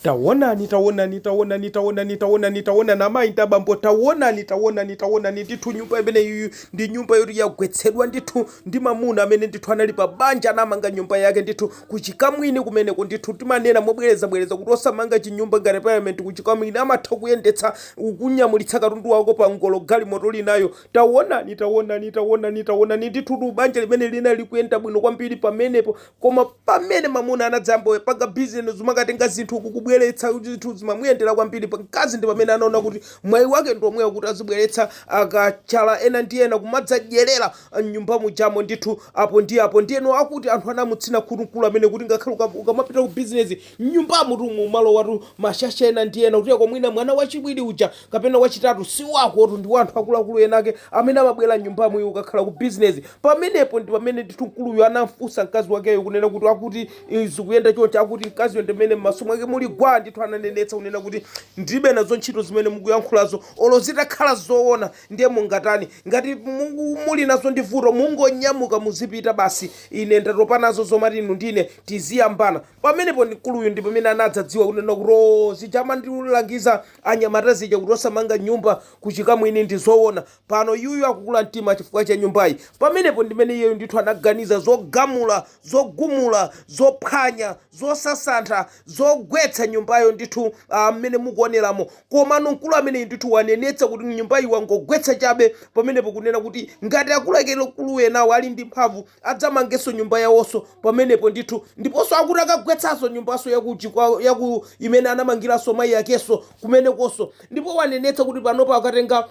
Tawonani, tawonani, tawonani, tawonani, tawonani, tawonani, amayi ndi abambo, tawonani, tawonani, tawonani, ndithu nyumba imene iyiyi ndi nyumba yoti yagwetsedwa ndithu ndi mamuna amene ndithu anali pa banja anamanga nyumba yake ndithu ku chikamwini kumeneko ndithu timanena mobwerezabwereza kuti osamanga chinyumba ngati parliament ku chikamwini amatha kuyendetsa kukunyamulitsa katundu wako pa ngolo galimoto uli nayo tawonani, tawonani, tawonani, tawonani, ndithutu banja limene linali likuyenda bwino kwambiri pamenepo Koma pamene mamuna anadzayamba kupanga business zomakatenga zinthu uku kubweretsa kuti zinthu zimamuyendera kwambiri mkazi ndi pamene anaona kuti mwayi wake ndi omwewo kuti azibweretsa akachala ena ndi ena kumadzadyerera m'nyumba mujamo ndithu apo ndi apo ndiyeno akuti anthu anamutsina khutu mkulu ameneyu kuti ngakhale uka- ukamapita ku business M'nyumbamutu mumalowatu mashasha ena ndi ena, kuteroko mwina mwana wachiwiri uja kapena wachitatu si wakotu, ndi wa anthu akuluakulu enaake amene amabwera m'nyumbamu iwe ukakhala ku bizinezi. Pamenepo ndi pamene ndithu mkuluyu anam'funsa mkazi wakeyo kunena kuti, Akuti ii zikuyenda chonchi, akuti mkaziyo ndi amene m'maso mwake muli gwaa ndithu ananenetsa kunena kuti, Ndilibe nazo ntchito zimene mukuyankhulazo, olo zitakhala zoona ndiye mungatani? Ngati mu muli nazo vuto mungonyamuka muzipita basi, ine ndatopa nazo zomati inu ndi ine tizingoyambana. Pamenepo mkuluyu ndi pamene anadzadziwa kunena kuti oo zija amandilangiza anyamata zija kuti osamanga nyumba kuchikamwini ndi zoona. Pano iyuyu akukula mtima chifukwa cha nyumbayi. Pamenepo ndimene iyeyu ndithu anaganiza zogamula, zogumula, zophwanya, zosasantha, zogwetsa nyumbayo ndithu aa mmene mukuoneramo. Komano mkulu ameneyu ndithu wanenetsa kuti nyumbayi wangogwetsa chabe pamenepo kunena kuti ngati akuluakulu enawo ali ndi mphamvu adzamangenso nyumba yawonso pamenepo ndithu, ndiponso akuti akagwetsanso nyumbanso ya ku chikwa ya ku imene anamangiranso mayi akenso kumenekonso, ndipo wanenetsa kuti panopa akatenga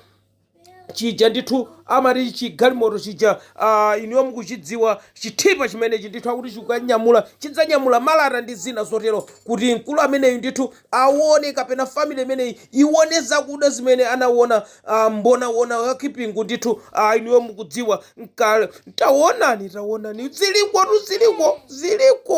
chija ndithu amati chigalimoto chija ah, inuyo mukuchidziwa chithipa chimenechi ndithu akuti chikanyamula chidzanyamula malata ndi zina zotero kuti mkulu ameneyu ndithu awone kapena family imeneyi iwone zakuda zimene anawona Ah, Mbonaona wakipingu ndithu ah, inuyo mukudziwa nkale tawonani tawonani zilikotu ziliko ziliko